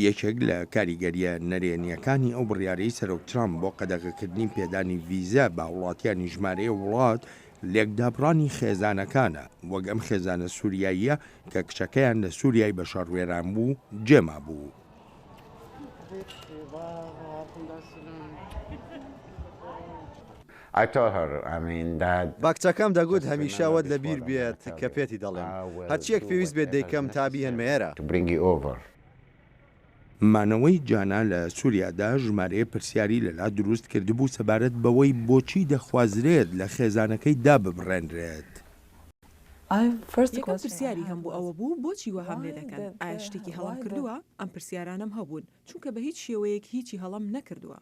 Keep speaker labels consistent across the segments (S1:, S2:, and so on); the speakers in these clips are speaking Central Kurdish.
S1: یەکێک لە کاریگەرییە نەرێنییەکانی ئەو بڕیارەی سەرۆک ترامپ بۆ قەدەغەکردنی پێدانی ڤیزە بە هاوڵاتیانی ژمارەیە وڵات، لێکدابڕانی خێزانەکانە، وەک ئەم خێزانە سوریاییە کە کچەکەیان لە سوریای بە شەڕ وێران بوو جێ مابوو.
S2: I told her I mean that. باکچەکەم دەگوت هەمیشە ئەوەت لە بیر بێت کە پێتی دەڵێم. هەرچییەک پێویست بێت دەیکەم تا بیهێنمە ئێرە. To bring you over.
S1: مانەوەی جانا لە سوریادا ژمارەیە پرسیاری لەلا دروست کردبوو سەبارەت بەوەی بۆچی دەخوازرێت لە خێزانەکەی داببڕێنرێت. یەکەم
S3: پرسیاری هەم بۆ ئەوە بوو بۆچی وەهام لێ دەکەن؟ ئایا شتێکی هەڵەم کردووە؟ ئەم پرسیارانەم هەبوون. چونکە بە هیچ شێوەیەک هیچی هەڵەم نەکردووە.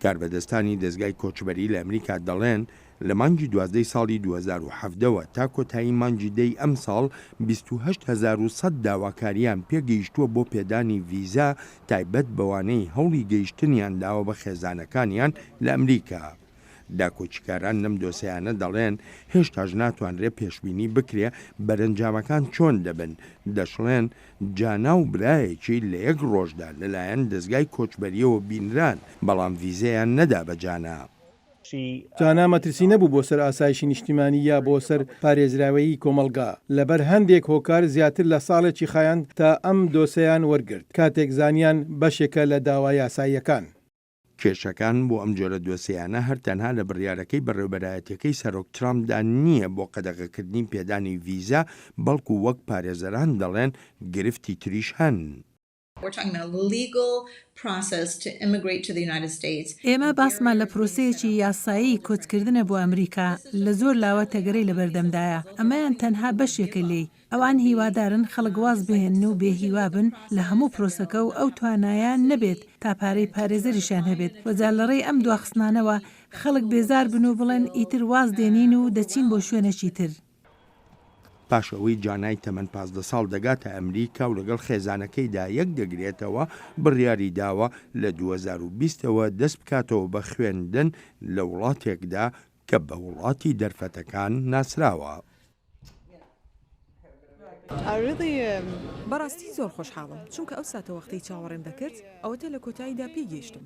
S3: کاربەدەستانی
S1: دەزگای کۆچبەری لە ئەمریکا دەڵێن، لە مانگی دوازدەی ساڵی دوو هەزار و حەڤدە وە تا کۆتایی مانگی دەی ئەمساڵ بیست و هەشت هەزار و سەد داواکارییان پێگەیشتووە بۆ پێدانی ڤیزا تایبەت بەوانەی هەوڵی گەیشتنیان داوە بە خێزانەکانیان لە ئەمریکا. داکۆکیکاران لەم دۆسێیانە دەڵێن، هێشتاش ناتوانرێت پێشبینی بکرێت بەرەنجامەکان چۆن دەبن، دەشڵێن، جانا و برایەکی لە یەک ڕۆژدا لەلایەن دەزگای کۆچبەرییەوە بینران، بەڵام ڤیزەیان نەدا بە جانا.
S4: جانا مەترسی نەبوو بۆ سەر ئاسایشی نیشتیمانی یا بۆ سەر پارێزراویی کۆمەڵگا، لەبەر هەندێک هۆکار زیاتر لە ساڵێکی خایاند تا ئەم دۆسێیان وەرگرت، کاتێک زانیان بەشێکە لە داوا یاساییەکان. کێشەکان
S1: بۆ ئەم جۆرە دۆسێیانە هەر تەنها لە بڕیارەکەی بەڕێوەبەرایەتیەکەی سەرۆک ترامپدا نییە بۆ قەدەغەکردنی پێدانی ڤیزا، بەڵکو وەک پارێزەران دەڵێن گرفتی تریش هەن.
S5: ئێمە باسمان لە پرۆسەیەکی یاسایی کۆچکردنە بۆ ئەمریکا، لە زۆر لاوە تەگەرەی لەبەردەمدایە، ئەمەیان تەنها بەشێکە لێی، ئەوان هیوادارن خەڵک واز بهێنن و بێ هیوا بن لە هەموو پرۆسەکە و ئەو توانایەیان نەبێت تا پارەی پارێزەریشیان هەبێت و جا لەڕێی ئەم دواخستنانەوە خەڵک بێزار بن و بڵێن ئیتر واز دێنین و دەچین بۆ شوێنەکی تر.
S1: پاش ئەوەی جانای تەمەن پازدە ساڵ دەگاتە ئەمریکا و لەگەڵ خێزانەکەیدا یەک دەگرێتەوە، بڕیاری داوە لە دوو هەزار و بیست ەوە دەست بکاتەوە بە خوێندن لە وڵاتێکدا کە بە وڵاتی دەرفەتەکان ناسراوە.
S3: بەڕاستی زۆر خۆشحاڵم چونکە ئەو ساتەوەختەی چاوەڕێم دەکرد ئەوەتا لە کۆتاییدا پێی گەیشتم.